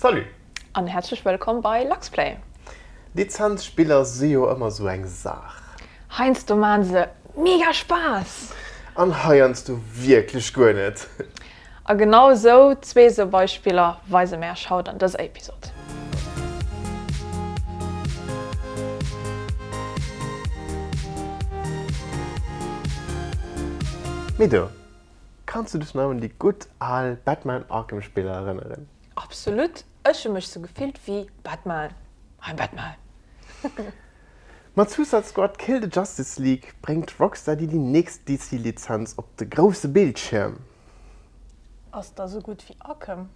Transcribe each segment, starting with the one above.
Salut! An häerzlech wëllkomm bei Luxplay! Lizenzspiller si jo ëmmer sou eng Saach. Heiansdo maan se mega Spaass! An heiansdo wierklech guer net! A genau sou zwee sou Beispiller weise mär Esch haut an dëser Episod. Mido, Kanns du dech nach un déi gutt al Batman Arkham Spiller erënneren? Absolut, ech hu mech sou gefillt wéi Batman, I'm Batman! Mat Suicide Squad Kill the Justice League bréngt Rockstar déi déi nächst DC Lizenz op de grousse Bildschierm. Ass da sou gutt wéi Arkham?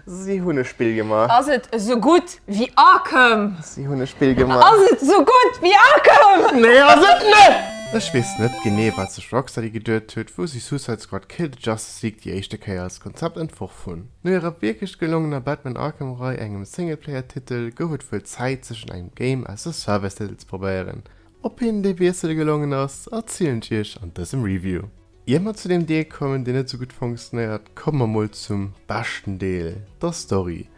Si hunn e Spill gemaach. Ass et esou gutt wéi Arkham? Si hunn e Spill gemaach. Ass et esou gutt wéi Arkham? Nee ass et net! Ech weess net genee wat sech Rocksteady geduet huet wou si Suicide Squad Kill the Justice League déi éischte Kéier als Konzept entworf hunn. No hirer wierklech gelongener Batman Arkham Rei, engem Singleplayer Titel, gouf et wuel Zäit sech un engem Game aus der Service Titel ze probéieren. Ob hinnen dee Wiessel gelongen ass, erzielen ech iech an dësem Review. Ier mer zu deem Deel kommen, deen net esou gutt fonctionnéiert, komme mer mol zum beschten Deel, der Story.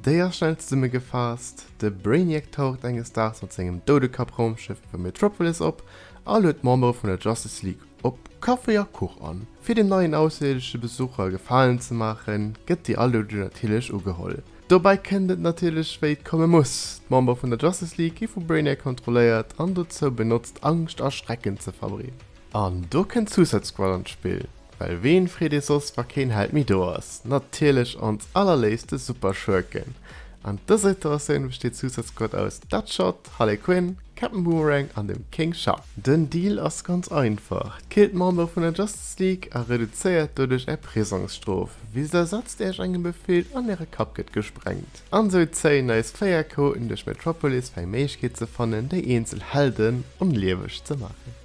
Déi ass schnell zesummegefaasst, De Brainiac taucht enges Daags mat sengem Doudekapp-Raumschëff iwwer Metropolis op a luet d'Membere vun der Justice League op Kaffi a Kuch an. Fir dem neien ausserierdesche Besucher e Gefalen ze maachen, gëtt déi Aluedung natierlech ugeholl. Dobäi kënnt et natierlech wéi et komme muss, D'Membere vun der Justice League gi vu Brainiac kontrolléiert an dozou benotzt, Angscht a Schrecken ze verbreeden. An do kënnt d'Suicide Squad an d'Spill, well ween freet ee soss wa keen Held méi do ass? Natierlech ons allerléifste Superschurken. An dëser Iteratioun besteet d'Suicide Squad aus Deadshot, Harley Quinn, Captain Boomerang an dem King Shark. Den Deal ass ganz einfach, killt d'Member vun der Justice League a reduzéiert doduerch är Prisongsstrof, wéi se ersetzt iech engem befilt an äre Kapp gëtt gesprengt. An sou zéien eis 4 Chaoten duerch Metropolis fir eng Méiglechkeet ze fannen déi eenzel Helden onlieweg ze maachen.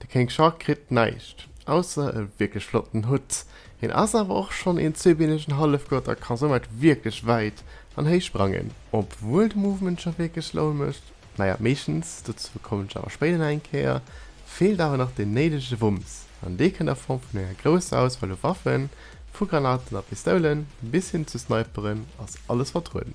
De Kéng Charles kritt näischt, ausser e wierklech flotten Hutt. Hien ass awer och schonn een zweebeenegen Hallefgott a ka soumat wierklech wäit an héich sprangen. Obwuel de Movement scho wierklech Laun mécht, naja, meeschtens, dozou kommen ech awer spéider nach eng Kéier, feelt awer nach deen néidege Wumms. An dee kënnt a Form vun enger grousser Auswahl u Waffen, vu Granaten a Pistoulen bis hin zu Sniperen ass alles vertrueden.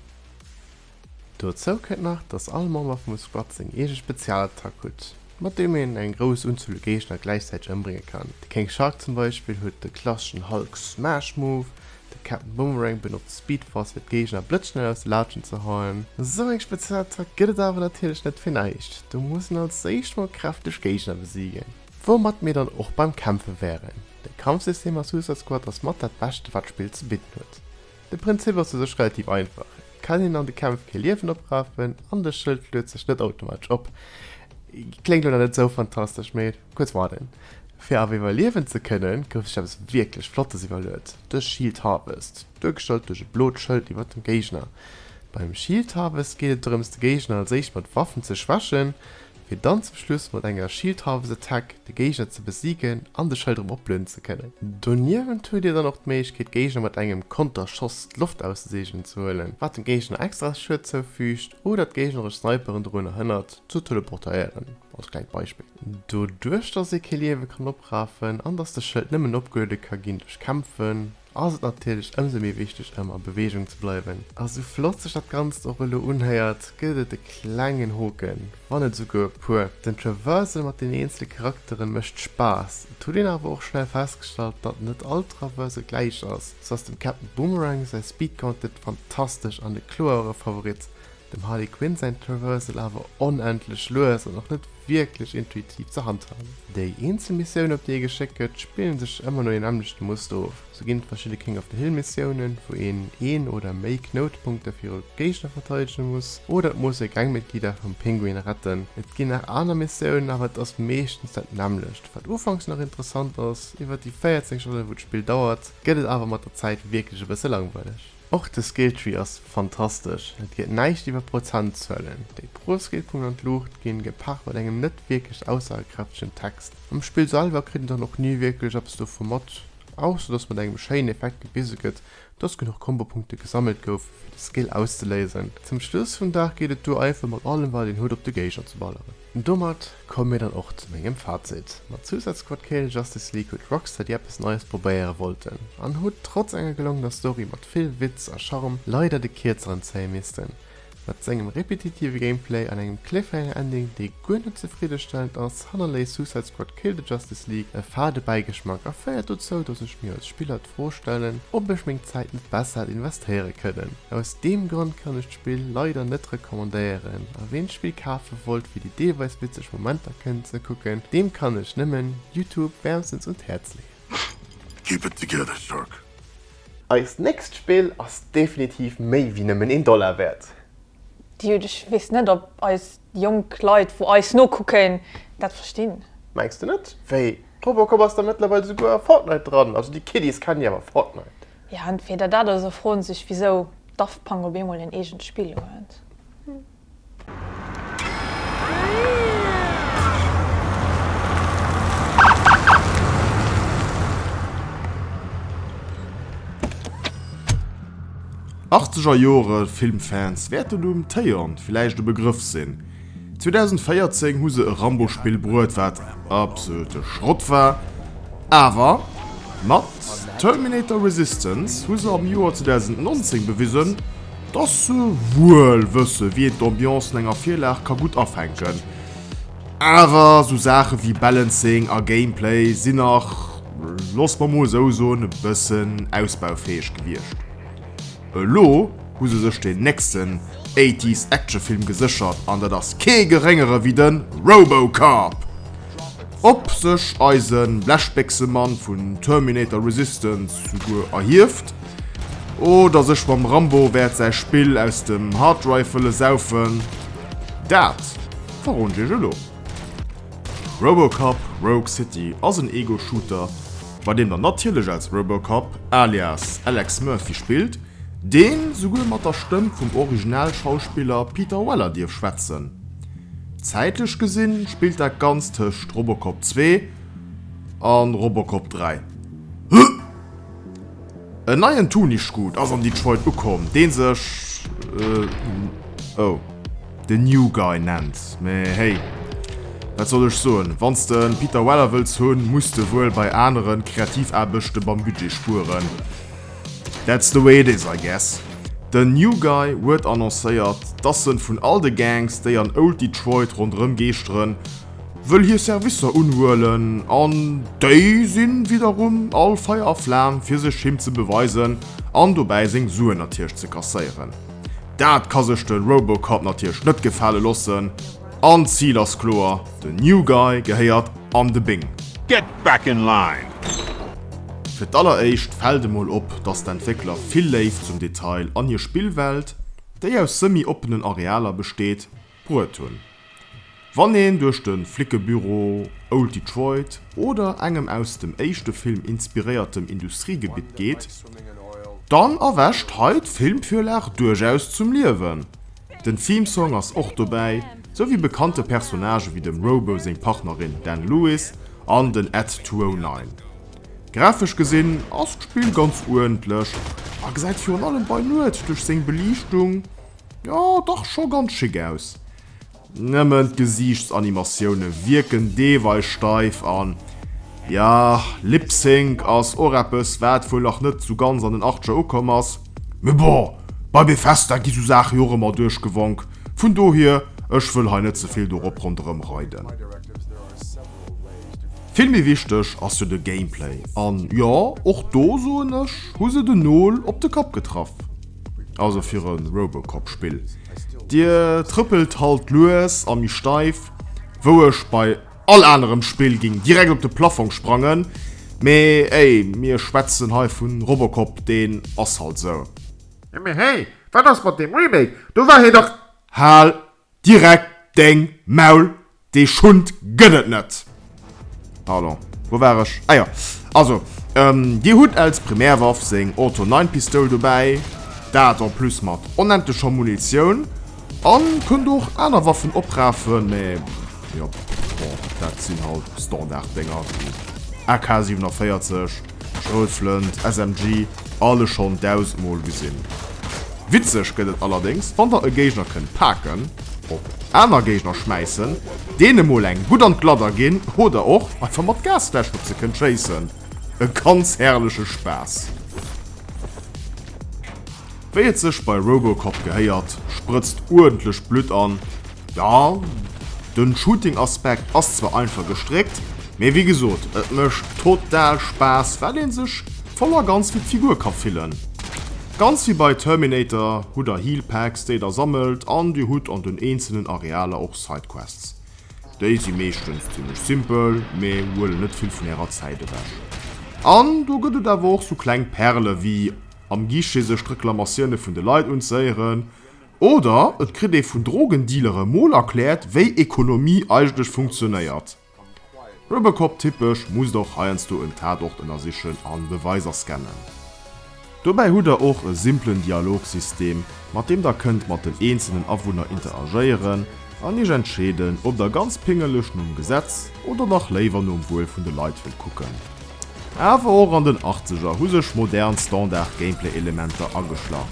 Dozou kënnt nach, dass all Member vum Squad seng eege Spezialattack hutt, mat deem een eng grouss Unzuel u Géigner gläichzäiteg ëmbrénge kann. De King Shark zum Beispill huet de klasseschen Hulk Smash Move, de Captain Boomerang benotzt Speed Force fir d'Géigner blëtzschnell aus de Laatschen ze hauen. Esou eng Spezialattack gëtt et awer natierlech net fir näischt, do muss een als éischt mol kräfteg Géigner besiegen. Woumat mir dann och beim Kämpfe wären, de Kampfsystem a Suicide Squad ass mat dat beschte wat d'Spill ze bidden huet. De Prinzip ass u sech relativ einfach, et kann een an de Kämpf kee Liewen oprafen an de Schëld luet sech net automatesch op. Kléngt elo nach net esou fantastesch, mee kuerz warnen. Fir awer iwwerliewen ze kënnen, gouf sech eppes wierklech Flottes iwwerluet, de Shield Harvest, duergestallt duerch e blot Schëld iwwer dem Géigner. Beim Shield Harvest geet et drëms, de Géigner als éischt mat Waffen ze schwächen, fir dann zum Schluss mat enger Shield Harvest Attack de Géigner ze besigen an de Schëld erëm oplueden ze kënnen. Doniewent huet dir dann och d'Méiglechkeet d'Géigner mat engem Konterschoss d'Loft auszeseegnen ze huelen, wat dem Géigner extra Schued zoufüügt oder d'géigneresch Sniperen dorunner hënnert ze teleportéieren, als klengt Beispill. Doduerch dass ee kee Liewe kann oprafen an dass de Schëld nëmmen opgeluede ka ginn duerch Kämpfen, ass et natierlech ëmsou méi wichteg ëm a Beweegung ze bleiwen. A sou flott sech dat Ganzt och elo unhéiert, gëtt et e klengen Hoken, wann net esouguer e puer. Den Traversal mat den eenzele Charakteren mécht Spaass, et huet een awer och schnell festgestallt, datt net all Traversal gläich ass. Sou ass dem Captain Boomerang säi Speed Gauntlet fantastesch an de kloere Favorit, Dem Harley Quinn säin Traversal awer onendlech lues an och net wierklech intuitiv ze handhaben. Déi eenzel Missiounen op déi ee geschéckt gëtt, spillen sech ëmmer no deem nämmlechten Muster of. Sou ginn d'verschidde King of the Hill Missiounen, wou een een oder méi Knoutpunkte viru Géigner verteidegen muss, oder et muss ee Gangmitglieder vum Pinguin retten. Et ginn nach aner Missiounen, awer et ass meeschtens dat nämmlecht. Wat ufanks nach interessant ass, iwwert déi 14 Stonnen wou d'Spill dauert, gëtt et awer mat der Zäit wierklech e bësse langweileg. Och de Skilltree ass fantastesch, et geet näischt iwwer Prozentzuelen. Déi pro Skillpunkt an d'Luucht ginn, gepaart mat engem net wierklech aussagekräftegen Text. Am Spill selwer kritt een dann och ni wierklech eppes dovu mat, ausser dass mat engem schéinen Effekt gewise gëtt, dass genuch Kombopunkte gesammelt goufen, fir de Skill auszeléisen. Zum Schluss vum Dag geet et duer einfach mat allem wat een huet op de Géigner ze balleren. Domat Komme mir dann och zu mengem Fazit. Mat Suicide Squad Kill Justice League huet Rocksteady eppes Neies probéiere wollten an hu trotz enger gelongener Story mat vill Witz a Charme leider de Kierzeren zéie missten. Mat sengem repetitive Gameplay an engem Cliffhanger Ending, dee guer net zefriddestellend ass, hannerléisst Suicide Squad Kill the Justice League e fade Bäigeschmack a féiert dozou, dass ech mir als Spiller d'Fro stellen, ob ech meng Zäit net besser hätt investéiere kënnen. Aus deem Grond kann ech Spill leider net recommandéieren a ween d'Spill kafen wollt fir déi deelweis witzeg Momenter kënnen ze kucken, deem kann ech nëmmen YouTube wärmstens un d'Häerz leeën. Keep it together Shark! Eist nächst Spill ass definitiv méi wéi nëmmen een Dollar wäert. Dude, ech wees net op eis jonk Leit wou eis nokucken dat verstinn. Mengs de net? Wéi Robocop ass da mëttlerweil souguer a Fortnite dran, also déi Kiddies kennen jo awer Fortnite. Jo, entweder dat oder se froen sech wisou Daft Punk op eemol en eegent Spill huet. Achtzeger Jore Filmfans wäerten um Téon villäicht e Begrëff sinn. 2014 hu se e Rambo-Spill bruet, wat absolute Schrott war, awer mat Terminator Resistance hu se am Joer 2019 bewisen, dass se wuel wësse wéi een d'Ambiance vun enger Virlag ka gutt afänken. Awer sou Saache wéi Balancing a Gameplay sinn nach, loosse mer mol esou soen, e bëssen ausbaufäeg gewiescht. Elo hu se sech den nächsten Eighties Actionfilm geséchert an dat ass kee geréngere wéi de Robocop! Ob sech eise Blechbéchsemann vun Terminator Resistance souguer erhieft oder sech mam Rambo wäert säi Spill aus dem Harddrive wëlle saufen, dat verroden ech iech elo. Robocop Rogue City ass en Ego-Shooter, bei deem der natierlech als Robocop alias Alex Murphy spillt, deen souguer mat der Stëmm vum Originalschauspiller Peter Weller dierf schwätzen. Zäitlech gesinn spillt dat Ganzt tëscht Robocop 2 a Robocop 3. En neien Tuniscute ass an Detroit ukomm, deen sech oh The New Guy nennt. Mee hey, wat soll ech soen, wanns de en Peter Weller wëlls hunn, muss de wuel bei aneren Kreativaarbechten beim Budget spueren. That's the way it is, I guess. Den New Guy huet annoncéiert, dass en vun all de Gangs, déi an Old Detroit ronderëm geeschteren, wëll hir Servicer unhuelen an déi sinn widderum all Feier a Flam fir sech him ze beweisen an dobäi seng Suen natierlech ze kasséieren. Dat ka sech de Robocop natierlech net gefale lossen an d'Zil ass kloer, de New Guy gehéiert an de Bing. Get back in line! Fir d'alleréischt fält emol op, dass d'Entwéckler vill Léift zum Detail an hir Spillwelt, déi aus semi-oppenen Arealer besteet, bruet hunn. Wann een duerch de Flickebüro, Old Detroit oder engem aus dem éischte Film inspiréiertem Industriegebitt geet, dann erwächt hei d'Filmvirlag duerchaus zum Liewen. Den Theme-Song ass och dobäi, sou wéi bekannte Personnage wéi dem Robo seng Partnerin Dan Lewis an den Ed 209. Grafesch gesinn ass d'Spill ganz uerdentlech a gesäit virun allem bei Nuet duerch seng Beliichtung, Jo dach scho ganz schick aus. Nëmmen d'Gesiichtsanimatioune wierken deelweis steif an ja, Lip-Sync ass och eppes wat wuel nach net sou ganz an den Achtscher ukomm ass. Mee bon, bei Bethesda gi sou Saache jo och ëmmer duerchgewonk, vun dohier ech wëll hei net ze vill dorop ronderëm reiden. Vill méi wichteg ass jo de Gameplay an jo, och do soen ech, hu se den Nol op de Kapp getraff. Also fir e Robocop-Spill. D'Dier trëppelt halt lues a méi steif, wou ech bei all anerem Spill géing direkt op de Plaffong sprangen, mee ey, mir schwätzen hei vu Robocop, deen ass halt esou. Jo mee hey, wat ass mat deem Remake, do war hie dach. Hal Direkt deng Maul, dee Schund gëtt et net! Pardon, wou war ech? Ah jo, also, Dir hutt als Primärwaff seng Auto 9 Pistoul dobäi, dat en plus mat onendlecher Munitioun, an kënnt och aner Waffen oprafen, mä jo, bon, dat sinn halt Standard-Dénger wéi AK 47, Schrotflënt, SMG, alles schonn dausend mol gesinn. Witzeg gëtt et allerdéngs, wann der e Géigner kënnt paken, op aner Géigner schmäissen, deene mol eng gutt an d'Gladder ginn oder och einfach mat Gasfläschen op se kënnt schéissen. E ganz herrleche Spaass! Wéi et sech bei Robocop gehéiert, sprëtzt uerdentlech Blutt an Jo, den Shooting Aspekt ass zwar einfach gestréckt, mee wéi gesoot et mecht total Spaass well een sech voll a ganz wéi d'Figur ka fillen. Ganz wéi bei Terminator hutt der Heal Packs déi der sammelt an dir hutt an den eenzelen Arealer och Sidequests. Déi si meeschtens zimlech simpel mee huelen net vill vun ärer Zäit ewech. An do gëtt et awer och sou kleng Perle wéi am Guichet sech d'Reklamatioune vun de Leit unzéieren Oder et kritt ee vun Drogendealere mol erkläert, wéi Ekonomie eigentlech funktionéiert. Robocop-typesch musst och heiansdo en Tatort ënnersichen a Beweiser scannen. Dobäi hutt der och e simplen Dialogsystem, mat deem der kënnt mat den eenzelnen Awunner interagéieren, An iech entscheeden, ob der ganz pingeleg nom Gesetz oder dach léiwer nom Wuel vun de Leit wëllt kucken. Awer och an den Achtzeger hu sech modern Standard-Gameplay-Elementer ageschlach,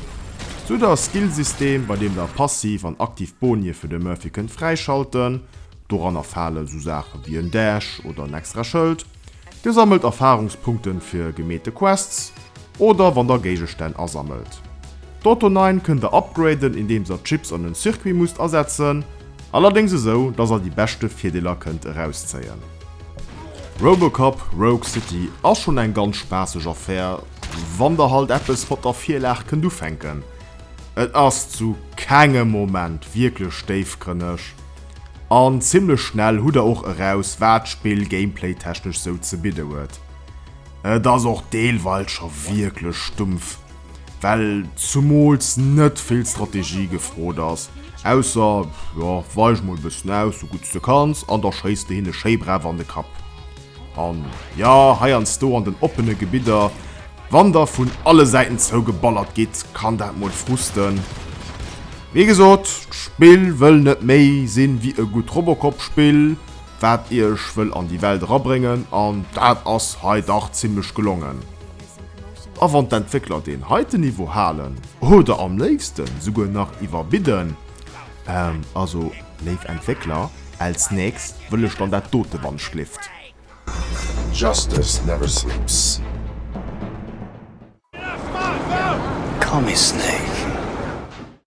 sou der Skill-System, bei deem der passiv an aktiv Bonie fir de Murphy kënnt fräischalten. Doranner fale sou Saache wéi en Dash oder en extra Schëld, Dir sammelt Erfarungspunkten fir gemeete Quests oder wann der Géigestänn asammelt. D'Auto 9 kënnt der upgraden indeems der Chips an en Circuit musst asetzen, allerdéngs esou dass der déi beschte Virdeeler kënnt erauszéien. Robocop Rogue City ass schonn eng ganz spaasseg Affär wann der halt eppes mat der Virlag kënnt ufänken. Et ass zu kengem Moment wierklech déifgrënneg, An zimmlech schnell hutt der och eraus wat d'Spill Gameplay technesch sou ze bidde huet. Et ass och deelweils scho wierklech stumpf, well zumools net vill Strategie gefrot ass, ausser, jo, weich mol e bëssen aus sou gutt s de kanns an da schéiss de hinne schéi brav an de Kapp. An jo, heiansdo an den oppene Gebidder, wann da vun alle Säiten zougeballert gitt, kann dat mol frusten. Wéi gesot, d'Spill wëll net méi sinn wéi e gutt Robocop-Spill, wat iech wëll an déi Welt erabréngen, an dat ass hei dach zimmlech gelongen. A wann d'Entwéckler deen heiten Niveau halen, oder am léifsten souguer nach iwwerbidden, also, Léif Entwéckler, als nächst wëll ech dann dat dote wann ech lift. Justice never sleeps. Call me Snaith.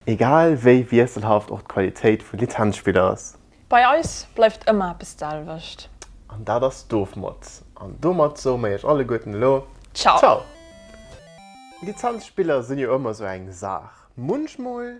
Egal wéi wiesselhaft och d'Qualitéit vun Lizenzspiller ass. Bei eis bleift ëmmer eppes d'selwecht. An dat ass d'Ofmod. An domat soe mer iech alleguerten elo Ciao! Lizenzspiller sinn jo ëmmer esou eng Saach. Munchmol.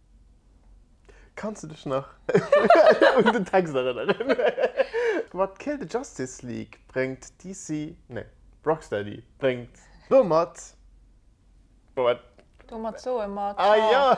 Kanns de dech nach un den Text erënneren? Mat Kill the Justice League bréngt DC, nee, Rocksteady bréngt domat, domat soe mer Tschau.